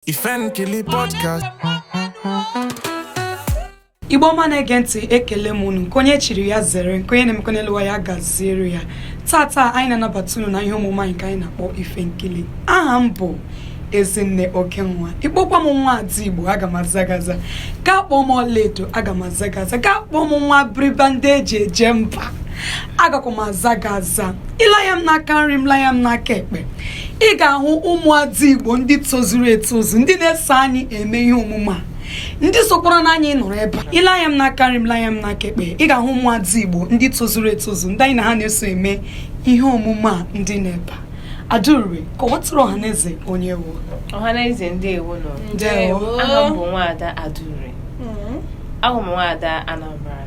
Ife Nkili Podcast. igbo ọma na-ege ntị ekele m unu nke onye chiri ya zere nke onye na-emekọ n'elu ụwa ya gaziere ya tata anyị na-anabata unu na ihe omume anyị nke anyị na-akpọ ife nkili aha m bụ ezinne oke nwa ị kpọkwa m nwaada igbo aga m aza gị aza gaa kpọọ m ọlaedo aga m aza gị aza gaa kpọọ m nwa Abiriba ndị e ji eje mba agakwa m aza gị aza ị lee anya m n'aka nri m lee anya m n'aka ekpe ị ga-ahụ ụmụada igbo ndị tozuru etozu ndị na-eso anyị eme ihe omume a ndị sokwara na anyị nọrọ ebe a ị lee anya m n'aka nri m lee anya m n'aka ekpe ị ga-ahụ ụmụada igbo ndị tozuru etozu ndị anyị na ha na-eso eme ihe omume a ndị nọ ebe a Adaugo kọwatụrụ ọhaneze onye ị wụ ọhaneze ndewo nụ Ndewo. aha m bụ nwaada Adaugo Mm. awụ m nwaada Anambra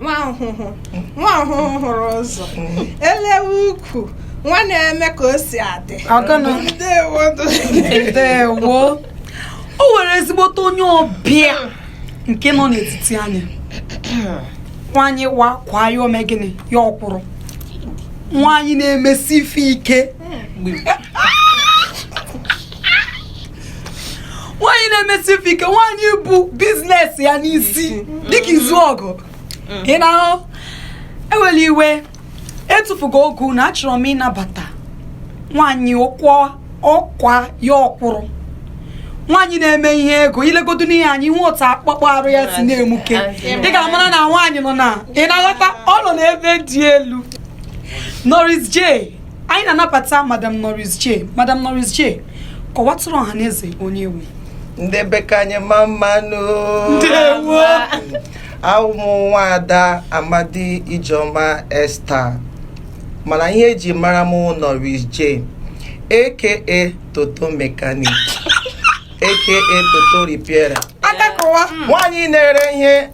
nwa Ọhụhụ nwa Ọhụhụ hụrụ ụzọ e lewe ukwu nwa na-eme ka o si adị Ọgọnọ. ndewo ndewo o nwere ezigbote onye ọbịa nke nọ n'etiti anyị nwanyị wa kwaa ya o mee gịnị ya ọ kwụrụ nwanyị na-emesi ife ike nwaanyị na-emesi ife ike nwaanyị bu business ya n'isi dịka Izuogu ị na-ahụ ewela iwe etufughị oge unu achọrọ m ịnabata nwaanyị ọ kwaa ọ kwaa ya ọ kwụrụ nwaanyị na-eme ihe ego i legodu n'ihe anyị hụ otu akpụkpọ arụ ya si na-emuke ị ga-amara na nwaanyị nọ na ị na-aghọta ọ nọ n'ebe dị elu Norris J anyị na-anabata madam Norris J madam Norris J kọwatụrụ ọha na eze onye ị wụ ndị be nke anyị mma mma nụ ndewo awụ m nwaada amadi ijeọma Esther mana ihe e ji mara m Norris J aka toto mechanic aka toto repairer aka kọwa nwaanyị na-ere ihe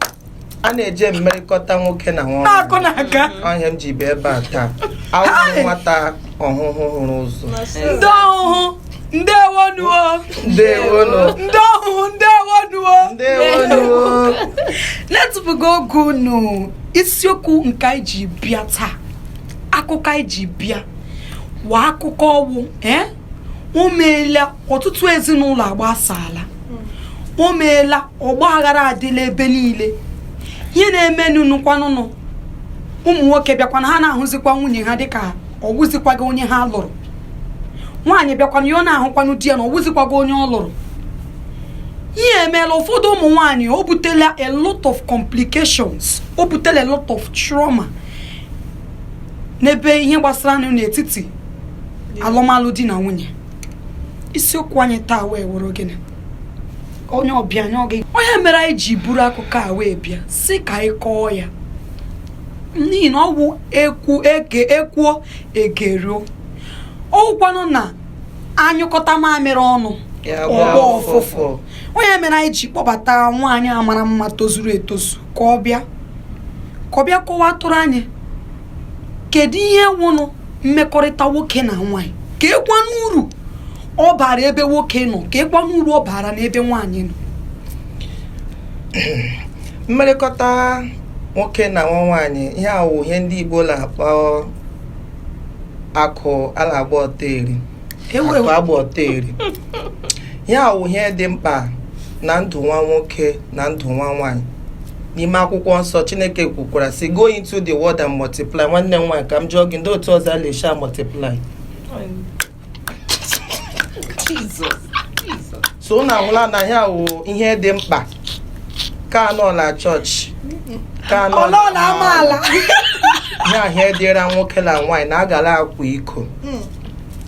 a na-eji mmerịkọta nwoke na nwa na-akụ na aga ọ ihe m ji bịa ebe a taa awụ m nwata Ọhụhụ hụrụ ụzọ ndị Ọhụhụ ndewonu o ndewonu ndị Ọhụhụ ndewonu o ndewonu na-etufughị oge unu isiokwu nke anyị ji bịa taa akụkọ anyị ji bịa wụ akụkọ ọ wụ eh? o meela ọtụtụ ezinụlọ agbasaala o meela ọgba aghara adịla ebe niile ihe na-emenunukwanụnụ ụmụ nwoke bịakwanụ ha na-ahụzikwa nwunye ha dịka ọ wụzikwaghị onye ha lụrụ nwaanyị bịakwanụ ya ọ na-ahụkwanụ di ya na ọ wụzikwaghị onye ọ lụrụ ihe a emeela ụfọdụ ụmụ nwaanyị o butela a lot of complications o butela a lot of trauma n'ebe ihe gbasara n'etiti alụmalụ di na nwunye isiokwu anyị taa wee wụrụ gịnị onye ọbịa anyị ọ gị onye mere anyị ji buru akụkọ a wee bịa sị ka anyị kọọ ya n'ihi na ọ wụ ekwu eke ekwuo egeruo ọwụkwanụ na anyụkọta mamịrị ọnụ ọ gbọọ ụfụfụ ọ ihe mere anyị ji kpọbata nwaanyị a mara mma tozuru etozu ka ọ bịa ka ọ bịa kọwaatụrụ anyị kedu ihe wụnụ mmekọrịta nwoke na nwaanyị keekwanụ uru ọ bara ebe nwoke nọ keekwanụ uru ọ bara n'ebe nwaanyị nọ mmerịkọta nwoke na nwa nwaanyị ihe a wụ ihe ndị igbo na-akpọ akụ a na-agba ọtọ eri Ewe- ewe agba ọtọ eri ihe a wụ ihe dị mkpa na ndụ nwa nwoke na ndụ nwa nwaanyị n'ime akwụkwọ nsọ chineke kwukwara sị go into the world and multiply nwanne m nwaanyị ka m jụọ gị ndị otu ọzọ a na-esi a multiply so unu ahụla na ya wụ ihe dị mkpa ka a nọ na chọọchị ka a nọ ụlọ na amaala ya ihe a dịrị nwoke na nwaanyị na agala akwa iko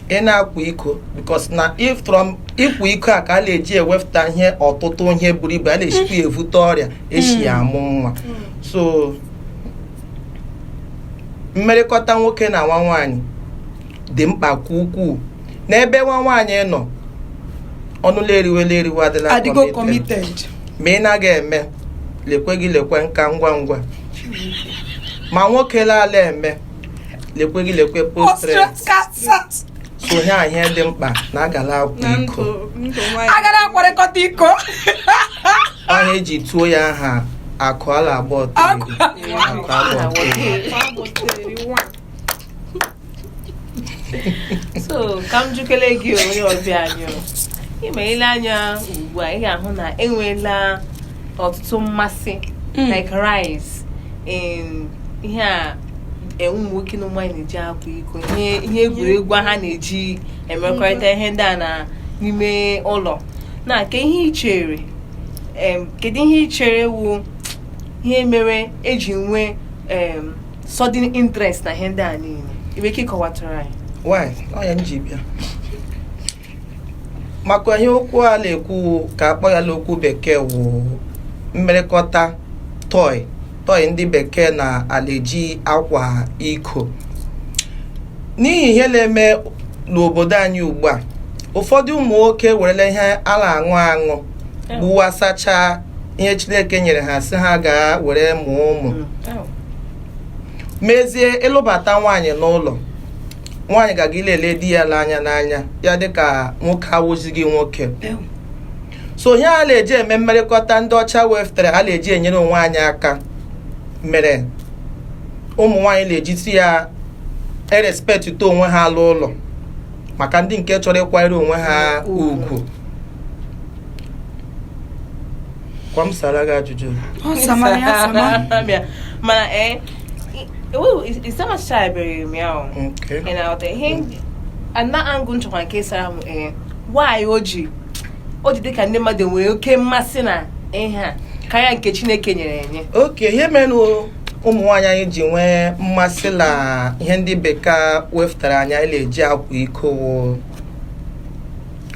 ị na-akwa iko because na if from ịkwa iko a ka a na-eji ewepụta ihe ọtụtụ ihe buru ibu a na-esikwa ya evute ọrịa esi ya amụ nwa so mmerịkọta nwoke na nwa nwaanyị dị mkpa nke ukwuu na ebe nwa nwaanyị nọ ọnụla eriwela eriwe adịla adịgo committed ma ị naghị eme lekwe gị lekwe nka ngwa ngwa ma nwoke laala eme lekwe gị lekwe prostate so ihe a ihe dị mkpa na agala akwa iko agala akwarịkọta iko ọ ihe eji tuo ya aha akụ a na-agba ọtọ so ka m jụkele gị onye ọbịa anyị ị ma ile anya ugbu a ị ga-ahụ na enweela ọtụtụ mmasị hmm. like rise in ihe a enwe ụmụ nwoke na ụmụ nwaanyị na-eji akwa iko ihe egwuregwu ha na-eji emekọrịta ihe ndị a na n'ime ụlọ na kee ihe i chere kedu ihe i chere wụ ihe mere eji nwee sudden interest na ihe ndị a niile i nwere ike ịkọwatara anyị why ọ ya m ji bịa maka ihe okwu a na-ekwu ka a kpọ ya n'okwu bekee wụ mmerekọta toy toy ndị bekee na-aleji akwa iko n'ihi ihe na-eme n'obodo anyị ugbu a ụfọdụ ụmụ nwoke werela ihe a na-aṅụ aṅụ gbuwasachaa ihe chineke nyere ha sị ha gaa were mụọ ụmụ mezie ịlụbata nwaanyị n'ụlọ nwaanyị ga-aga ilele di ya n'anya n'anya ya dịka nwoke awụzighị nwoke so ihe a na-eji eme mmerekọta ndị ọcha weftere a na-eji enyere onwe anyị aka mere ụmụ nwaanyị na-ejizi ya erespektịta onwe ha la ụlọ maka ndị nke chọrọ ịkwanyere onwe ha ugwu kwa m sara gị ajụjụ Ọ samara ya sama. Bịa. mana ee isamachabeghị m ya o Okay. ị na-aghọta ihe ndị- ana angụ nchọkwa nke sara m ee why o ji o ji dịka ndị mmadụ nwere oke mmasị na ihe a karịa nke chineke nyere enye okay ihe mere na o- ụmụ nwaanyị anyị ji nwee mmasị na ihe ndị bekee wepụtara anyị anyị na-eji akwa iko wụ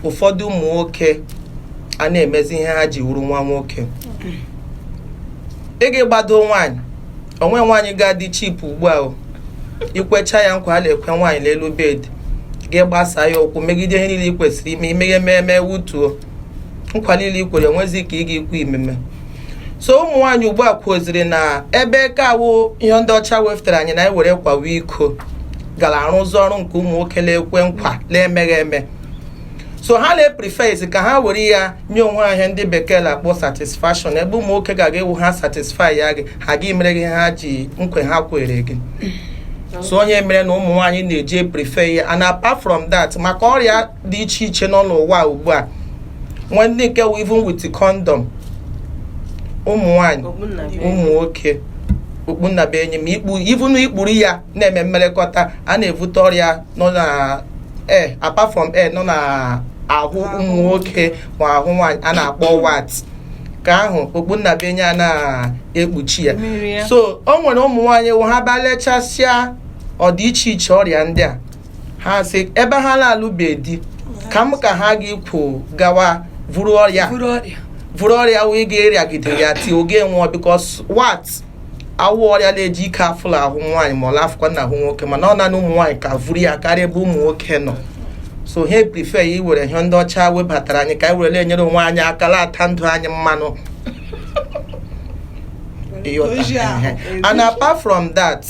ụfọdụ ụmụ nwoke a na-emezi ihe ha ji wụrụ nwa nwoke ị ga-agbado nwaanyị o nwe nwaanyị ga-adị cheap ugbu a o ikwecha ya nkwa a na-ekwe nwaanyị n'elu bed gị gbasaa ya ụkwụ megide ihe niile ị kwesịrị ime i meghị ememe wutuo nkwa niile i kwere enwezi ka ị ga-ekwu imeme so ụmụ nwaanyị ugbu a kwuoziri na ebe ka awụ ihe ndị ọcha wefụtara anyị na anyị were kwawa iko gara arụzi ọrụ nke ụmụ nwoke na-ekwe nkwa na-emeghị eme so ha na-epreferzi ka ha were ya nye onwe ha ihe ndị bekee na-akpọ satisfaction ebe ụmụ nwoke ga-aga ewu ha satisfy ya gị ha gị mere gị ha ji nkwa ha kwere gị so ọ ya mere na ụmụ nwaanyị na-eji eprefer ya and apart from that maka ọrịa dị iche iche nọ n'ụwa ugbu a nwee ndị nke wụ even with condom ụmụ nwanyị ụmụ nwoke okpu nnabuenyi ma ikpu even ikpuru ya na-eme mmerekọta a na-ebute ọrịa nọ na air eh, apart from air eh, nọ na ahụ ụmụ nwoke ma ahụ nwanyị a na-akpọ wart ka ahụ okpu nnabuenyi a na-ekpuchi ya so o nwere ụmụ nwanyị wụ ha bịa lechasịa ọdị iche iche ọrịa ndị a ha sị ebe ha na-alụbe di kama ka ha gị kwo gawa vuru ọrịa buru ọrịa vuru ọrịa wee ga erịagide ya till oge nwụọ because wart awụ ọrịa na-eji ike afụ la ahụ nwaanyị ma ọ la afụkwa na ahụ nwoke mana ọ nanị ụmụ nwaanyị ka vuru ya karịa ebe ụmụ nwoke nọ so ha prefer ya iwere ihe ndị ọcha webatara anyị ka anyị were na-enyere onwe anyị aka na-ata ndụ anyị mmanụ Ịghọta? Ozi ahụ. Ehe. and apart from that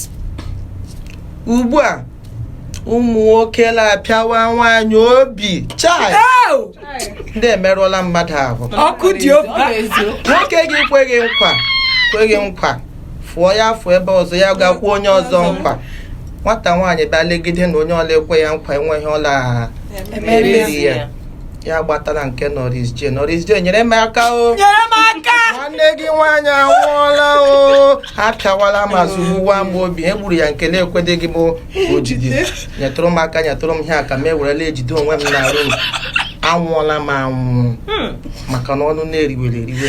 ugbu a ụmụ nwoke na-apịawa nwaanyị obi chai ndị emerụọla mmadụ ahụ ọkụ dị ofe nwoke gị kwe gị nkwa kwe gị nkwa fụọ ya fụọ ebe ọzọ ya gakwụ onye ọzọ nkwa nwata nwaanyị bịa legide na onye ọ la ekwe ya nkwa enweghị ọ la emere ya ya gbatara nke Nurse J Nurse J nyere m aka o nyere m aka nwanne gị nwaanyị anwụọla o apịawala m zụgbuwa m obi e gburu ya nke na-ekwedịghị m ojide nyetụrụ m aka nyetụrụ m ihe aka m ewerela ejide onwe m na rum anwụọla m anwụ hmm. maka na ọnụ na-eriwere eriwe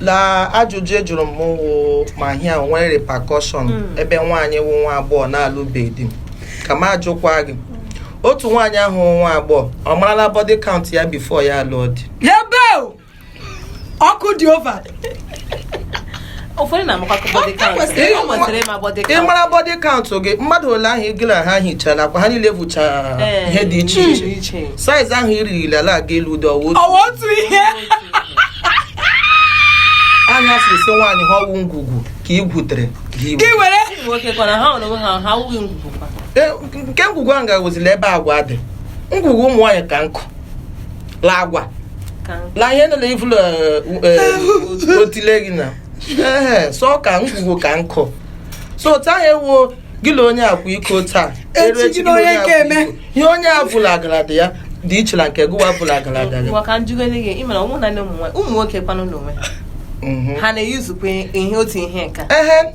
na ajụjụ a jụrụ m wụ ma ihe a nwere repercussion ebe nwaanyị wụ nwa agbọghọ na-alụbeghị di ka m ajụkwa gị otu nwaanyị ahụ wụ nwa agbọghọ ọ marala body count ya before ya alụọ di ebe o! ọkụ dị over ụfọdụ na-amakwa ka body count kwesịrị ịma. o kwesịrị ịma body count mara body count gị mmadụ ole ahụ gị na ha hichara ọkwa ha niile bụcha Ee, ihe dị iche iche iche size ahụ irighi ala aga elu ụdị ọ wụ otu ọ wụ otu ihe a na-asị sị nwaanyị ha ọ wụ ngwugwu ka ị gwutere gị were. gị were ụmụ nwoke kwa na ha nwere onwe ha ha awụghị ngwugwu kwa E, nke ngwugwu ahụ ga-ewezila ebe agwa dị ngwugwu ụmụ nwaanyị ka nkụ la agwa Ka m- la ihe nile i vu l'otile gị na Ehe, so ka ngwugwu ka nkụ so otu ahụ ewu gị na onye a akwa iko taa Echi eru gị na onye akwa nke eme. iko. ihe onye a bụla agarada ya dị iche na nke ọ bụla agarada ya Ngwa ka m jụgoro gị ị mara ụmụ na ụmụ nwa- ụmụ nwoke kwanụ n'onwe ha Mhm. ha na-eyuzukwa ihe otu ihe nka ehe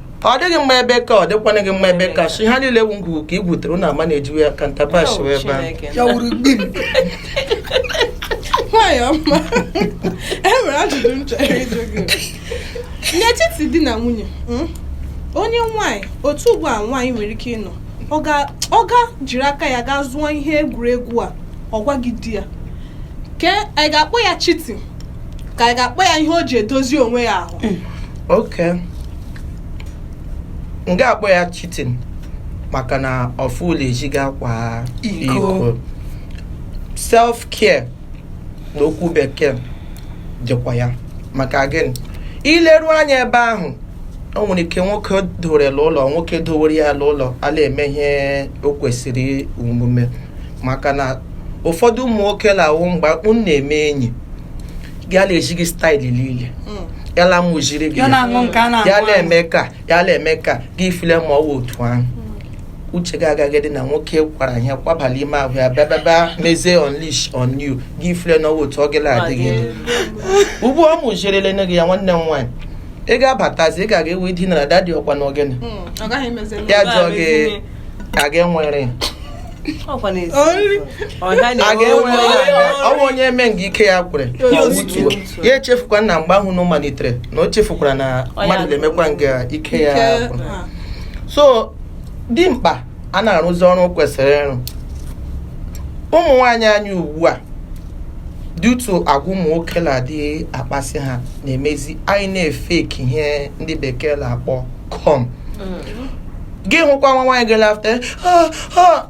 ọ dịghị mma ebe ka ọ dịkwana gị mma ebe ka shi ha niile wụ ngwugwu ka i gwutere na ama na-ejiwe ya ka ntapash wee baa ya wuru gbim nwaanyị ọma e nwere ajụjụ m chọrọ ịjụ gị n'etiti di na nwunye mm, onye nwaanyị otu ugbu a nwaanyị nwere ike ịnọ ọ ga- ọ ga jiri aka ya gaa zụọ ihe egwuregwu a ọ gwaghị di ya ke anyị ga-akpọ ya cheat ka anyị ga-akpọ ya ihe o ji edozi onwe ya ahụ okay m ga-akpọ ya cheating maka na ọ fụla ezi gaa kwaa iko. iko self care n'okwu bekee dịkwa ya maka gịnị ileru anya ebe ahụ o nwere ike nwoke dowere la ụlọ nwoke dowere ya la ụlọ ala eme ihe o kwesịrị omume maka na ụfọdụ ụmụ nwoke na-awụ mgbe akpụ na-eme enyi ya na-eji gị style niile ya na mụjiri gị ya na-aṅụ nke a ya na-aṅụ aṅụ. na-eme ka ya na-eme ka gị feel ma ọ wụ otu ahụ uche gị agaghị dị na nwoke kwara ihe kwabala ime ahụ ya bịabịaba mezie unleash on you gị feel na ọ wụ otu ọ gịla adịghị dị ugbu ọ mụjirele nne gị ya nwanne m nwaanyị ị ga-abatazi ị ga-aga ewe dinara daddy ọkwa na ogene ọ gaghị emezi ya jụọ gị aga enwere ọ bụ onye eme nga ike ya kwere ya echefukwa na mgbe ahụ na ọ malitere na o chefukwara na mmadụ na-emekwa nga ike ya so dimkpa a na-arụzi ọrụ kwesịrị ịrụ ụmụ nwaanyị anyị ugbu a due to agwa ụmụ nwoke na-adị akpasị ha na-emezi anyị na-efake ihe ndị bekee na-akpọ cum mm. gị hụkwa nwa nwaanyị gị after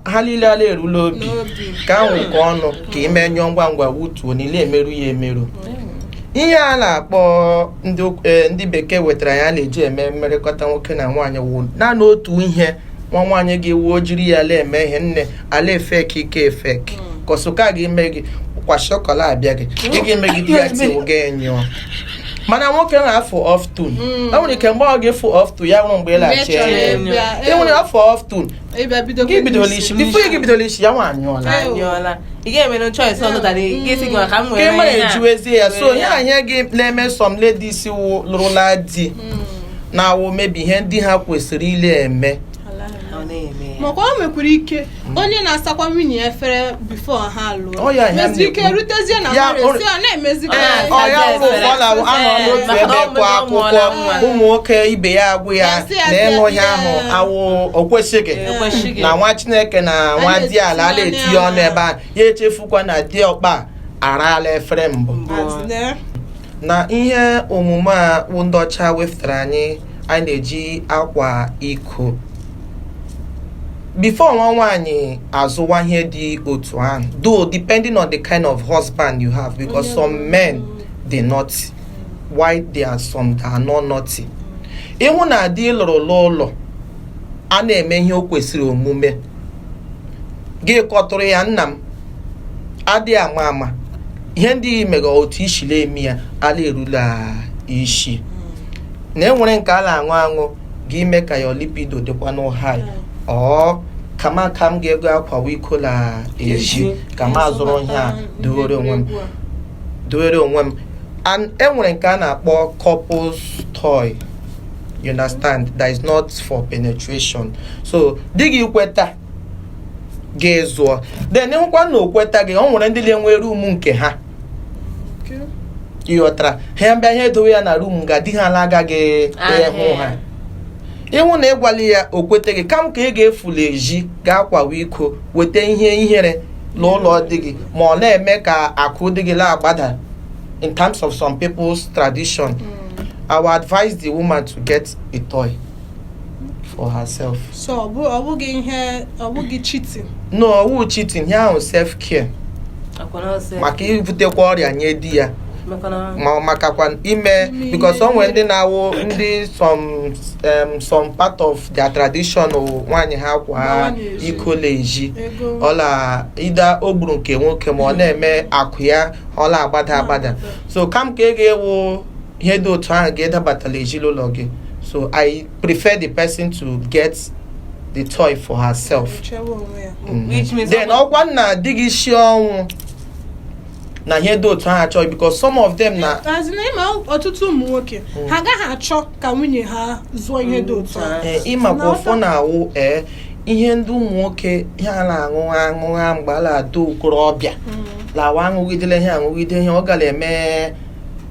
ha niile ala erula obi ka ahụ nke ọnụ ka ime nyụọ ngwa ngwa wutuo niile emerụ ya emerụ ihe a na-akpọ e, ndị bekee wetara ya na-eji eme mmerịkọta nwoke na nwaanyị wụ naanị otu ihe nwa nwaanyị ga-ewee jiri ya ala eme ihe nne ala efake efake hmm. ka ọsụka gị ime gị kwa shọkọla abịa gị ị ga-eme gị di ya tiwụ gị nyụọ mana nwoke na-afụ ọftun hmm. e nwere ike mgbe ọ ga-efu ọftun ya nwụrụ mgbe ị laghachi e nwere ọfụ ọftun gị bidola isi before gị bidola isi ya nwa anyụọla ị ga-emere choice ọzọ dara gị si gị maka m nwere mara ejiwezie ya so ihe ahụ na-eme some ladies lụrụla di hmm. na ọ wụ maybe ihe ndị ha kwesịrị ịla-eme maka o nwekwara ike onye na-asakwa nwunye ya efere before ha lụọ mezi ike rutezie na mmadụ esi ọ na-emezi ụmụ nwoke ibe ya agwa ya na ịṅụ ihe ahụ awụ o kwesịghị na nwa chineke na nwadiala ala etinye ọnụ ebe a ya echefukwa na diọkpa araala efere mbụ na ihe omume a wụ ndị ọcha wefụtara anyị anyị na-eji akwa iko before nwa nwaanyị azụwa ihe dị otu ahụ though depending on the kind of husband you have because some men dey naughty while there are some that are not naughty ị hụ na di ị lụrụ n'ụlọ a na-eme ihe o kwesịrị omume gị kọtụrụ ya nna m adị ama ama ihe ndị i mere otu i siri eme ya ala erula isi na e nwere nke a na-aṅụ aṅụ ga ime ka your libido dịkwanụ high or kama ka m ga-aga akwawa iko n'ezi ka m azụrụ ihe a dowere onwe m dowere onwe m and e nwere nke a na-akpọ couples toy you understand that is not for penetration so di gị kweta gị zụọ then ị hụkwa na o kweta gị o nwere ndị na-enwe room nke ha ị ghọtara ha bịa ihe edowe ya na room nga di ha ala agaghị ịhụ ha ị hụ na ị gwala ya o kweta gị kama ka ị ga-efula ezi ga akwawa iko weta ihe ihere n'ụlọ di gị ma ọ na-eme ka akụ di gị na-agbada in terms of some people's tradition mm. I would advise the woman to get a toy for herself so ọ bụ- ọ bụghị ihe ọ bụghị cheating no ọwụghị cheating ihe ahụ self care akwa na ọsọ maka ibutekwa ọrịa nye di ya maka na ma ọ makakwa ime Ime because ihe. o nwere ndị na-awụ ndị some um, some part of their tradition wụ nwaanyị ha kwaa Gbawa n'ezi. iko n'ezi ọ la ida o gburu nke nwoke ma ọ na-eme akụ ya ọ la-agbada agbada so kama ka ị ga-ewu ihe dị otu ahụ ga-adabata l'ezinụlọ gị so I prefer the person to get the toy for herself mm-hmm. Which means then ọkwanụ na di gị sie ọnwụ na ihe dị otu ahụ achọghị because some of them na ị ma ọtụtụ ụmụ nwoke mm. ha agaghị achọ ka nwunye ha zụọ ihe dị otu ahụ eh, ị makwa ụfọ na-awụ ee eh, ihe ndị ụmụ nwoke ha na-aṅụ aṅụ ha mgbe ha na-adị okorobịa mm. lawa aṅụgidele ihe aṅụgide ihe ọ gara eme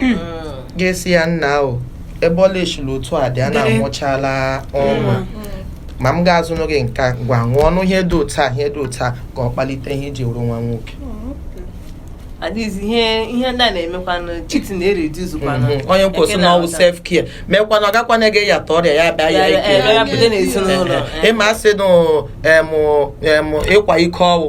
hmm. ga-esi ya n'ahụ ebe ọla echila otu a dị a na-amụchala ọnwa ma m ga-azụ n'oge nke gwa ṅụọ ọnụ ihe dị otu a ihe dị otu a ka ọ kpalite ihe e ji wụrụ nwa nwoke adịghịzi ihe ihe ndị a na-emekwanụ cheating na-ereduzukwanụ mhm. onye kwuo sị na ọwụ self care meekwana ọ gakwa na-ege ya ta ọrịa ya bịa ya ike ịma asị nụ ịkwa iko ọwụ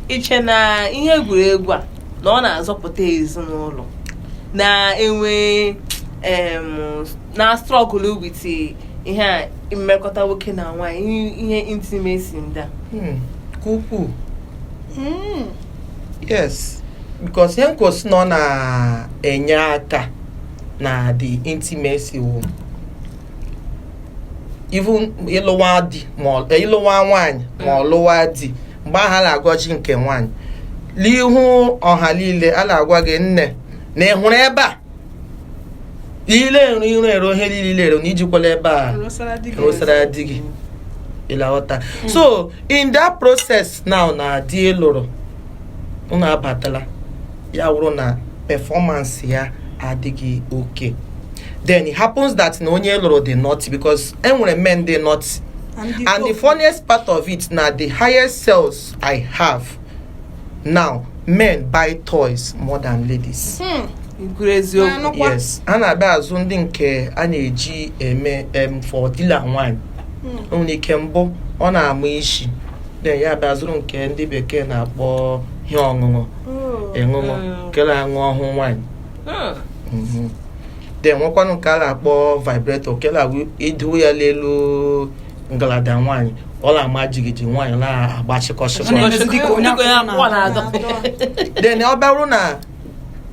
i che na ihe egwuregwu a na ọ na-azọpụta ezinụlọ na-enwe na struggle with ihe a mmekọta nwoke na nwaanyị ihe intimacy ndị a hmm, ka ukwuu hmm. yes because ihe nkosi na ọ na-enye aka na the intimacy wo even ịlụwa di ma ịlụwa nwaanyị ma ọ lụwa di mgbe ahụ a na-agwazi nke nwaanyị n'ihu ọha niile a na-agwa gị nne na ị hụrụ ebe a ile ero iro ero ihe niile ero na ijikwala ebe a rụsara di gị ị la-aghọta hmm. so in that process now na di ị lụrụ unu abatala ya wụrụ na performance ya adịghị oke then it happens that na onye lụrụ dị not because e nwere men dị not and the, and the funniest part of it na the highest sales I have now men buy toys more than ladies. Hmm. kwuru eziokwu yes ha na-abịa azụ ndị nke a na-eji eme em for di la nwanyị hmm. nwere ike mbụ ọ na-ama isi then ya abịa zụrụ nke ndị bekee na-akpọ ihe ọṅụṅụ oh. ịṅụṅụ hmm. ke la-aṅụ ọhụ nwanyị hmm. mhm. then nwekwanụ nke a na-akpọ vibrator nke na i do ya n'elu ngalada nwaanyị ọ na-ama jigiji nwaanyị na-agbachịkọsị Ọ na-emezi dịka onye Dịka onye akwụkwụ akwụkwụ na-agba. na-agba. then ọ bụrụ na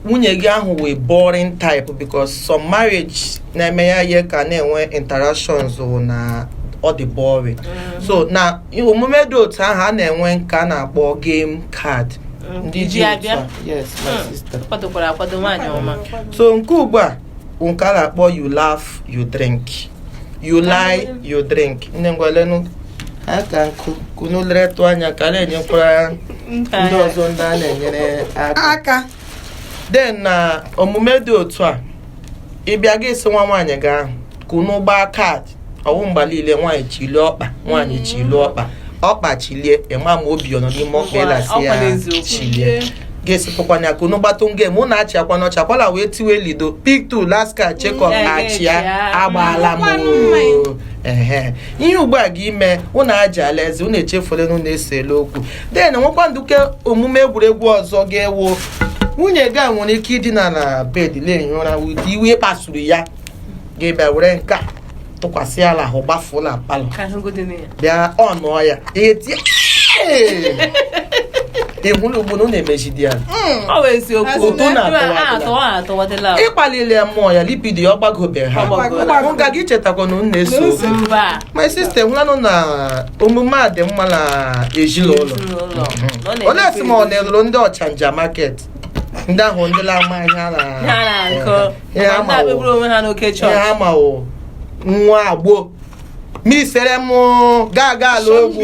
nwunye gị ahụ wụ boring type because some marriage na-eme ya ihe ka na-enwe interactions wụ na ọ dị boring so na omume dị otu ahụ a na-enwe nke a na-akpọ game card ndị ji otu a yes my hmm. sister kwadokwara akwado nwaanyị ọma so nke ugbu a nke a na-akpọ you laugh you drink you lie you drink nne ngwalenu aka nkụ ka unu leretụ anya ka na-enyekwara ndị ọzọ ndị a na-enyere aka then na omume dị otu a ị bịa gị sị nwa nwaanyị gị ahụ ka unu gbaa card ọ wụ mgbe niile nwaanyị chilie ọkpa nwaanyị mm. chilie ọkpa ọkpa chilie ị ma ma obi ọ nọ n'ime ọkpa ị la-asị ya chilie ga-esipụkwana ya ka unu gbatụ game unu achị akwa n'ọcha kwala wee tiwe ludo piktu laska chekọp mm, achịa agbaala m ihe ugbu a ga ime unu aji alaeze unu echefuola na unu esela okwu then nwekwanụ nke omume egwuregwu ọzọ ga-ewo nwunye gị a nwere ike idina na bed na-ehi ụra ụdị iwe ị kpasuru ya gị abịa were nke a tụkwasị ya la ahụ gbafuo na palọ ka ahụgodị na ya bịa ọ nụọ ya ihe tie ị hụla ugbo na ọ na-emejidi ya ọ bụ eziokwu Ụtọ na-atọwa a atọwa a atọwadịla ị kpalie ya mmụọ ya libido ya ọ gbagobe ha Ọ gbagobe. ọ gaghị echetakwa na unu na-ese Mba. my sister hụlanụ na omume a dị mma na ezinụlọ Ezinụlọ. Ọ na-eme olee sị ma ọ na-elụrụ ndị ọchanja market ndị ahụ ndị na-ama ihe a na- ha na-akọ ihe ha ma ndị ma abịagburu onwe ha n'oke ihe chọọchị ha ma wụ nwa agbọ misere m gaa gaa ala ogwu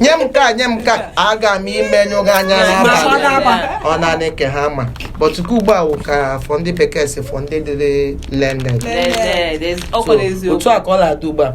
nye m ka nye m ka aga m imenyụ gị anya Ma n'abalị ọ ga-agba. ọ naanị nke ha ma but okwu ugbu a wụ ka for ndị bekee sị for ndị dị learned Learned, ezi- ọ kwere eziokwu otu a ka ọ na-adị ugbu a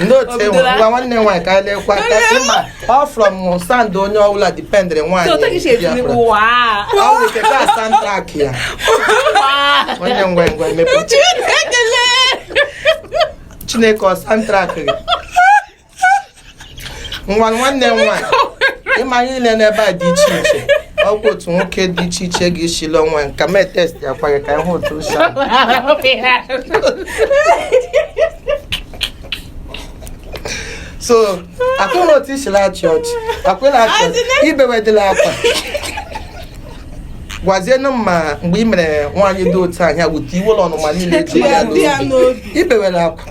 ndị otu enwe ngwa nwanne nwaanyị ka anyị lekwa ka ị ma ọ from sound onye ọbụla dipendịrị nwaanyị ọ bụ nke ka soundtrack ya nwanne ngwa ngwa emepe chineke ọ soundtrack gị nwa nwanne m nwaanyị ị ma ihe niile n'ebe a dị iche iche ọgwụ otu nwoke dị iche iche ga-esili ọnwa nka mee test akwa gị ka ị hụ otu o si adị. so akwụna otu i si la-achị ọchị akwụna achị ọchị i bewedịla akwa gwazienụ m ma mgbe ị mere nwaanyị dị otu ahụ ya wute iwe ụlọ ọnụma niile ji ya n'obi ibewela akwa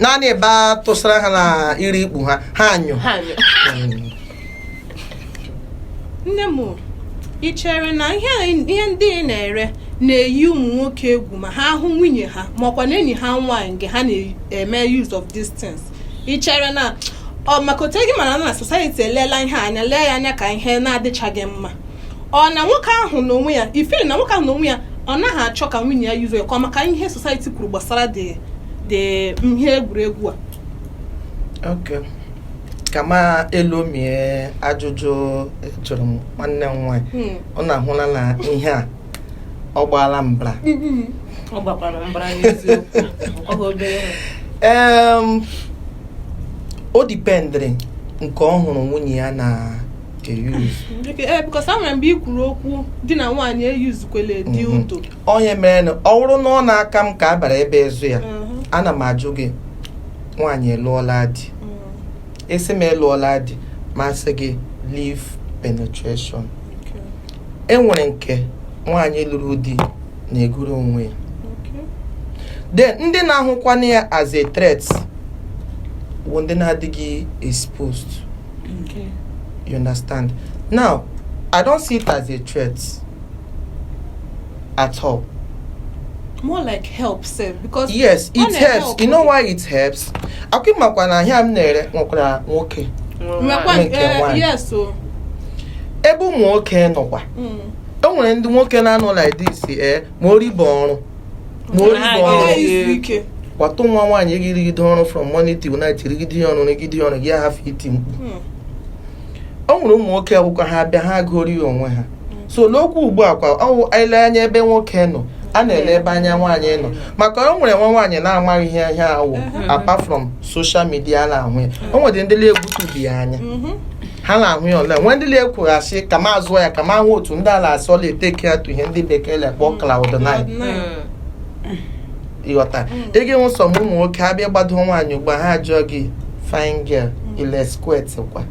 naanị ebe a tụsara ha na iri ikpu ha ha anyụ ha anyụ nne m ị chere na ihe a- ihe ndị ị na-ere na-eyi ụmụ nwoke egwu ma ha hụ nwunye ha ma ọ kwanụ enyi ha nwaanyị mgbe ha na-eme use of these things ị chere na ọ maka otu gị mara na society eleela ihe a anya lee ya anya ka ihe na-adịchaghị mma ọ na nwoke ahụ n'onwe ya ị fiili na nwoke ahụ n'onwe ya ọ naghị achọ ka nwunye ya yuzuo ya ka ọ maka ihe society kwuru gbasara ụdịdị ihe egwuregwu a Okay. kama e lomie ajụjụ ị jụrụ m nwanne m nwaanyị Hmm. ọ na-ahụla na ihe a ọ gbaala mbara ọ gbakwara mbara n'eziokwu ọ bụ obere nwa. Em, o dipendịrị nke ọ hụrụ nwunye ya na eyuzu ee bikos e nwere mgbe i kwuru okwu di na nwaanyị eyuzukwele dildo ọ ya mere na ọ bụrụ na ọ na-aka m ka a bara ebe ịzụ ya Mhm. ana m ajụ gị nwaanyị alụọla di Mm. asị m alụọla di ma sị gị live penetration Okay. e nwere nke nwaanyị lụrụ di na-egoro onwe ya Okay. then ndị na-ahụkwana ya as a threat bụ ndị na-adịghị exposed Okay. You understand? Now, I don't see it as a threat at all. More like helper, because yes, it helps. You know why it helps? Ọ kwa ị makwa na ahịa m na-ere nwekwara nwoke. Eh, yes, o. Ebe ụmụ nwoke nọkwa. Mm. E nwere ndị nwoke na-anọ like this, eh? ma ọrụ bụ ọrụ ma ọrụ bụ ọrụ Anaghị izu ike kpọtụ nwa nwaanyị gị rụgide ọrụ from morning till night rụgide ya ọrụ rụgide ya ọrụ gị ahafụ iti mkpu o nwere ụmụ nwoke ọ wụkwa ha bịa ha goro ya onwe ha so n'okwu ugbu a kwa ọ wụ anyị lee anya ebe nwoke nọ a na-ele ebe anya nwaanyị nọ maka o nwere nwa nwaanyị na-amaghị ihe ihe a wụ apart from social media na-ahụ ya o nwere ndị na-ahụtụbeghị ya anya ha na-ahụ ya ọ la-enwe ndị na-ekwuru asị ka m zụọ ya ka m hụ otu ndị a la-asị ọ la-etake ya to ihe ndị bekee la-akpọ cloud nine ị ghọta ị ga-enwe some ụmụ nwoke abịa gbado nwaanyị ugbu a ha ajụọ gị fine girl ị la squirt kwa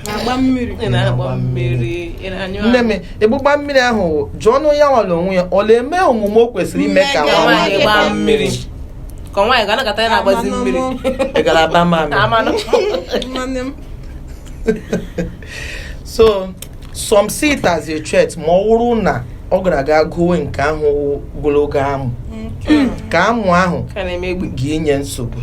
na-agba mmiri ị na-agba mmiri ị na-anyụ nne m ọgbụgba mmiri ahụ jụọnụ ya nwa la onwe ya ọ na-eme omume o kwesịrị ime ka Ka nwa nwaanyị nwaanyị gbaa gbaa mmiri ka nwaanyị ga-anakọta ya na-agbazi mmiri ị gara aba mamị amanụ nwanne m so some see it as a threat ma ọ wụrụ na ọ gara aga goo nke ahụ wụ ogologo amụ ka amụ ahụ ka na-eme egbu ga-enye nsogbu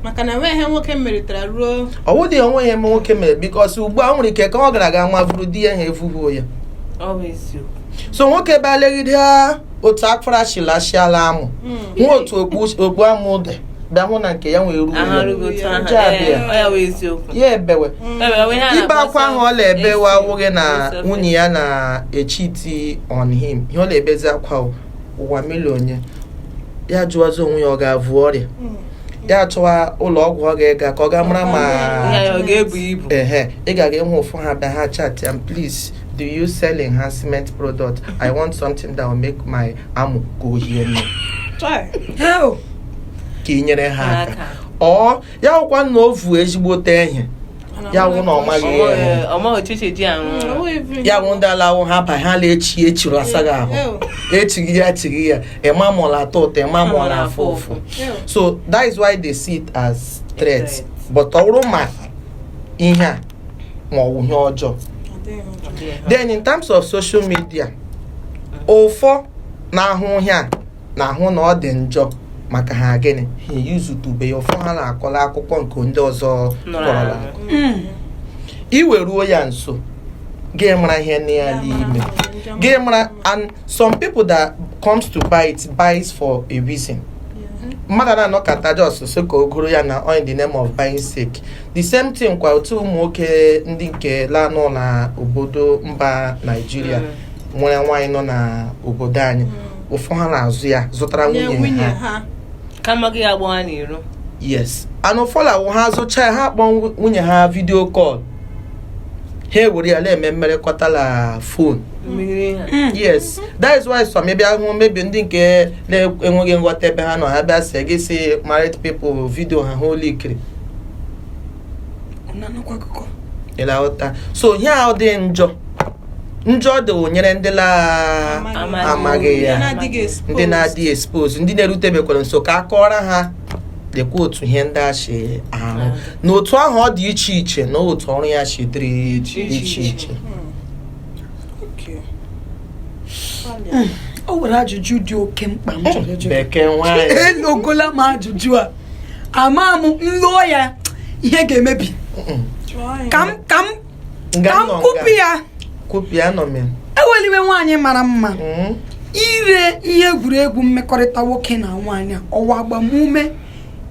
maka na enweghị ihe nwoke meritara ruo ọ wụdị ya onwe ya eme nwoke mere bikos ugbu a e nwere ike ka ọ gara aga nwa vuru di ya ha evubuo ya ọ bụ eziokwu so nwoke bịa legide ha otu akwara chiri achịala amụ na otu okpu- okpu amụ dị bịa hụ na nke ya nwee ruo aha ya. rụghị otu aha Nke a bịa. Ee, ọ ya wụ eziokwu ya ebewe Ewe, onwe ha ibe na-akpọ akwa ahụ ọ na-ebe self- wa awụghị na self- nwunye ya na-echiti on him ihe ọ na-ebezi akwa o, ụwa mele onye ya jụwazi onwe ya ọ ga-avụ ọrịa ya chọwa ụlọ ọgwụ ọ ga-aga ka ọ ga-amara ma Ihe ya ọ ga-ebu ibu ehe ị ga-aga ịhụ ụfọ ha bịa ha chat ya please do you sell enhancement product i want something that will make my amụ ka o hie nne Hell. ka ị nyere ha aka Aka. ọ ya wụkwa na o vu ezigbote ihe ya wụ na ọ maghị ihe ọma ochichi ji arụ ọrụ. ya wụ ndị alawụ ha ba ha na-echi echiri asaghị ahụ echighị ya echighị ya ịma mụrụ atọ ụtọ ịma mụrụ afụ ụfụ so that is why they see it as threat Threat. but ọ bụrụ ma ihe a ma ọ bụ ihe ọjọọ then in terms of social media ụfọ na-ahụ ihe a na-ahụ na ọ dị njọ maka ha gịnị ha eyuzutube ya ụfọ ha na-akọla akụkọ nke ndị ọzọ kọrọla akọ i wee ruo ya nso gị mara ihe nọ ya n'ime gị mara and some people that comes to buy it buys for a reason mmadụ na-anọkata just sị ka o goro ya na on the name of buying sake the same thing kwa otu ụmụ nwoke ndị nke la-anọ na obodo mba Naịjirịa nwere nwaanyị nọ na obodo anyị ụfọ ha na-azụ ya zụtara nye nwunye nwunye ha ha kama gị agba ha n'iro yes and ụfọ la-awụ ha zụcha ya ha kpọọ nwu- nwunye ha video call ha ewere ya na-eme mmerekọta na phone mmiri ha yes that is why some maybe ahụ maybe ndị nke na-enweghị nghọta ebe ha nọ ha bịa sị gị si married people video ha ha ụlọ ikiri ị la-aghọta so ihe ahụ dị njọ njọ dị nyere ndị amaghị ya ndị na-adịghị expose ndị na-erutebekwara nso ka a kọọrọ ha lekwa otu ihe ndị a si arụ na otu ahụ ọ dị iche iche na otu ọrụ ya si dịrị iche iche hmm. o nwere ajụjụ dị oke mkpa m chọrọ ịjụ bekee nwaanyị elogola m ajụjụ a ama m m loo ya ihe ga-emebi ka m ka m ka m kwupụ ya kwupịa nọ m ya eweliwe nwaanyị mara mma Mm. ire ihe egwuregwu mmekọrịta nwoke na nwaanyị a, ọ wụ agbamume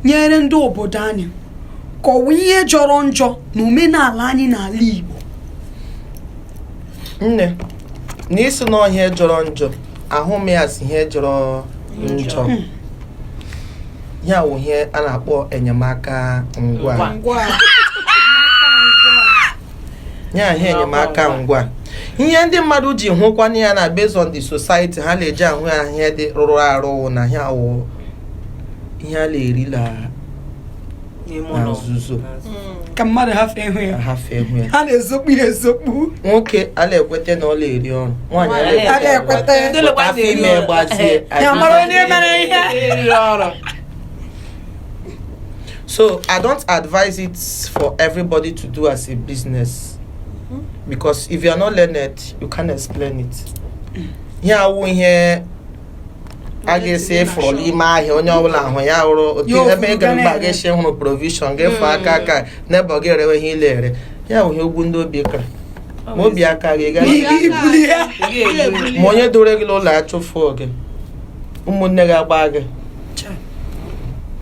nyere ndị obodo anyị ka ọ wụ ihe jọrọ njọ na omenala anyị n'ala Igbo nne na isi na ọ ihe jọrọ njọ ahụ m ya as ihe jọrọ njọ Hmm. ihe a wụ ihe a na-akpọ enyemaka ngwa Ngwa. Ngwa. ya ihe enyemaka ngwa ihe ndị mmadụ ji hụkwana ya na based on the society ha na-eji ahụ ya ihe dị rụrụ arụ wụ na ihe a wụ ihe a na-eri na na nzuzo hmm. ka mmadụ hafụ ịhụ ya ha na-ezokpu ya ezokpu nwoke anaghị ekweta na ọ na-eri ọrụ nwaanyị anaghị ekweta afọ ime gbazie so i don't advise it for everybody to do as a business hmm. because if you are not learned you can't explain it hmm. ihe a wụ ihe a ga-asị ị fụrụ n'ime ahịa onye ọbụla ahụ ya hụrụ otu Ya ebe ị ofuru gara ga mba na-ere. ga-esi hụrụ provision ga-efu aka aka n'ebe ọ ga-erewe ihe ile ere ya bụ ihe ugwu ndị obi kara ma obi aka gị gaa ibuli ya ma onye dore gị n'ụlọ achụfụ gị ụmụnne gị agba gị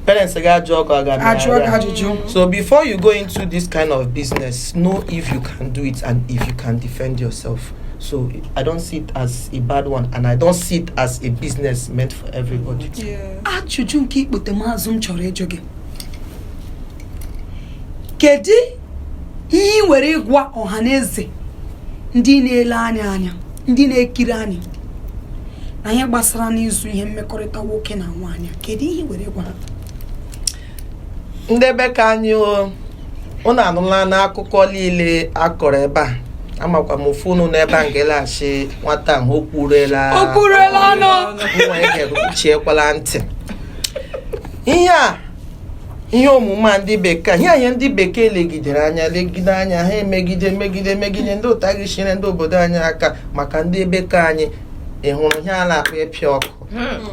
parents gị ajụ ọkụ aga ajụọ gị ajụjụ So before you go into this kind of business, know if you can do it and if you can defend yourself. So I don't see it as a bad one and I don't see it as a business meant for everybody. Ajụjụ nke ikpote m azụ m chọrọ ịjụ gị. Kedu ihe i nwere ịgwa ọha na eze ndị na-ele anyị anya ndị na-ekiri anyị na ihe gbasara n'ịzụ ihe mmekọrịta nwoke na nwaanyị kedu ihe i nwere ịgwa ha? ndị be ka anyị unu anụla n'akụkọ niile a kọrọ ebe a amakwa m ofu unu n'ebe a ngelaghachi nwata ahụ o kwuruela O kwuruela ọnụ. nwa ya ga-eruchiekwala ntị ihe a ihe omume a ndị bekee ihe anyị ndị bekee legidere anya legide anya ha emegide megide megide ndị ụta gị chire ndị obodo anyị aka maka ndị be ka anyị ị hụrụ ihe a na-akpọ ịpịa ọkụ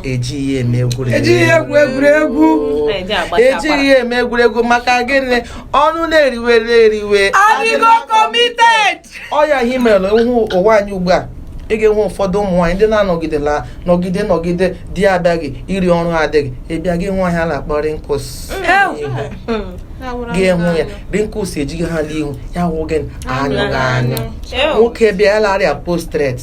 ejighị ya eme egwuregwu ejighị ya egwu egwuregwu Anyị ji agbacha akwara. ejighị ya eme egwuregwu maka gịnị ọnụ na-eriwere eriwe adịgo committed ọ ya ihe mere ị hụ ụwa anyị ugbu a ị ga-enwe ụfọdụ ụmụ nwaanyị ndị na-anọgide la nọgide nọgide di ya abịaghị iri ọrụ adịghị ịbịa gị nwee ihe a na-akpọ wrinkles gị hụ ya wrinkles ejighị ha n'ihu ya wụ gị anyụghị anyụ Ew. nwoke bịa ya la-arịa prostate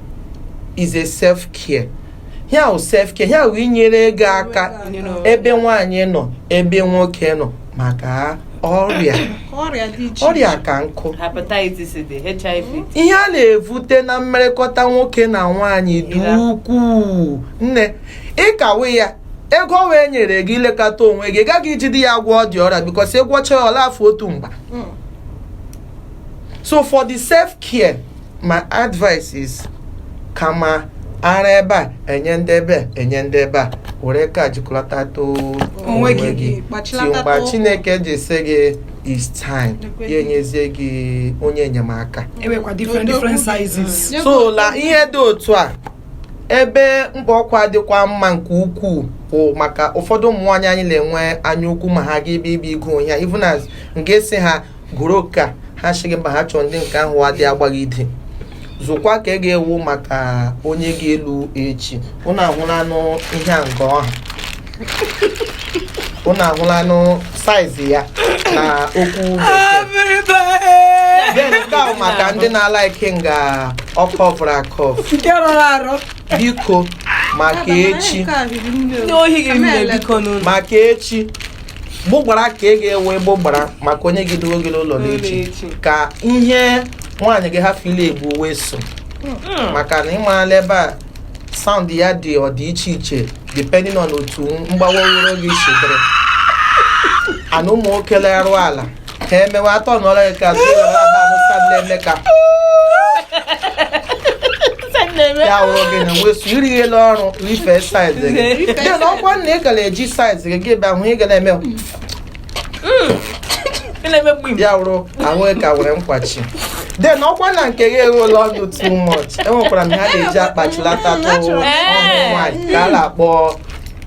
is a self care ya wụ self care ya wụ inyere gị aka ebe nwaanyị nọ ebe nwoke nọ maka ọrịa ọrịa dị iche ọrịa ka nkụ hepatitis dị hiv ihe a na-evute na mmerekọta nwoke na nwaanyị dị Ya. ukwuu nne ịkawe ya ego ọ wee nyere gị ilekọta onwe gị ị gaghị ijide ya gwọọ dị ọrịa because ị gwọchaa ya ọla afọ otu mgbe Mm. so for the self care my advice is kama ara ebe a enye ndị ebe a enye ndị ebe a were ka jikọlata tụ Onwe gị, ti gbachilata mgbe too. chineke ji sị gị is time Ekwe ya gị. enyezie gị onye enyemaka enwekwa different Odogwu different dị. sizes Nye so gị la otu. ihe dị otu a ebe mkpa ọkwa dịkwa mma nke ukwuu bụ maka ụfọdụ ụmụ nwaanyị anyị na-enwe anya ukwu ma ha ga ebe ibe igo ihe a even as nke si ha gụrụ oke a ha sị gị mba ha chọrọ ndị nke ahụ adị agbaghị ide zụkwa ka ị ga-ewu maka onye ga-elu echi ụnụ ahụlanụ ihe a nke ọha ụnụ ahụlanụ size ya na okwu then nke ahụ maka ndị na-ala ike nga ọkọ bụrụ akọ nke rọrọ arọ biko maka echi Ndị ohi gị mmiri biko n'ụlọ. maka echi gbụgbara ka ị ga-ewe gbụgbara maka onye ga-edo gị n'ụlọ n'echi n'echi. ka ihe nwaanyị gị hafụ ile egwu wee so maka na ịmarala ebe a sound ya dị ọ dị iche iche depending on otu mgbawa oworo gị chedere and ụmụ nwoke lerụ ala ka emewe atọ nọrọ ya ka azụ ya were aba ahụ so na-eme ka ya wụrụ gị na wesu iri elu ọrụ rife size gị ya na ọkwa na ị gara eji size gị gị bịa hụ ị ga na-eme ya wụrụ ahụ ka were nkwachi then ọkwa na nke gị eruola ọnụ too much enwekwara m ha na-eji akpachilata tụ ụmụ nwaanyị ka a na-akpọ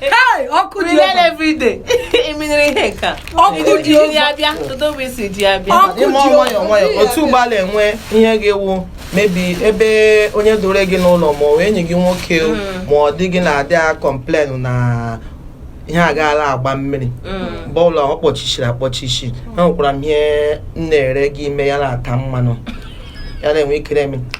Hey, ọkụ dị Remain ọkụ. every day. Eminere ihe nke a. Ọkụ Iji- dị iji ọkụ. ya bịa, kedu mgbe isi ji ya bịa? Ọkụ ịma dị nwayọọ ọkụ. nwayọọ otu gbalịa nwee ihe ga-ewu mebi ebe onye doro gị n'ụlọ ma ọ wụ enyi gị nwoke o, ma ọ di gị na-adị a complain na ihe agaala agba mmiri Mm. mgbe ọbụla ọ kpọchichiri akpọchichi enwekwara m ihe m na-ere gị ị mee ya na-ata mmanụ ya na-enwe cream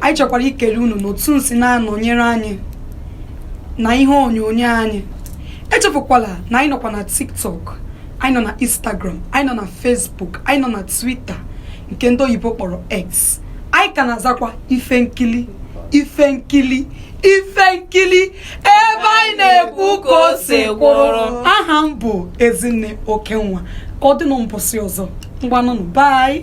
anyị chọkwara ikele unu n'otu unu si na-anọnyere anyị na ihe onyonyo anyị echefukwala na anyị nọkwa na tiktok anyị nọ na instagram anyị nọ na facebook anyị nọ na twitter nke ndị oyibo kpọrọ x anyị ka na-azakwa ife nkili ife nkili ife nkili ebe anyị na-ekwu ka o si kwụrụ aha m bụ ezinne okenwa ka ọ dị na mbọsị ọzọ ngwanụnụ bye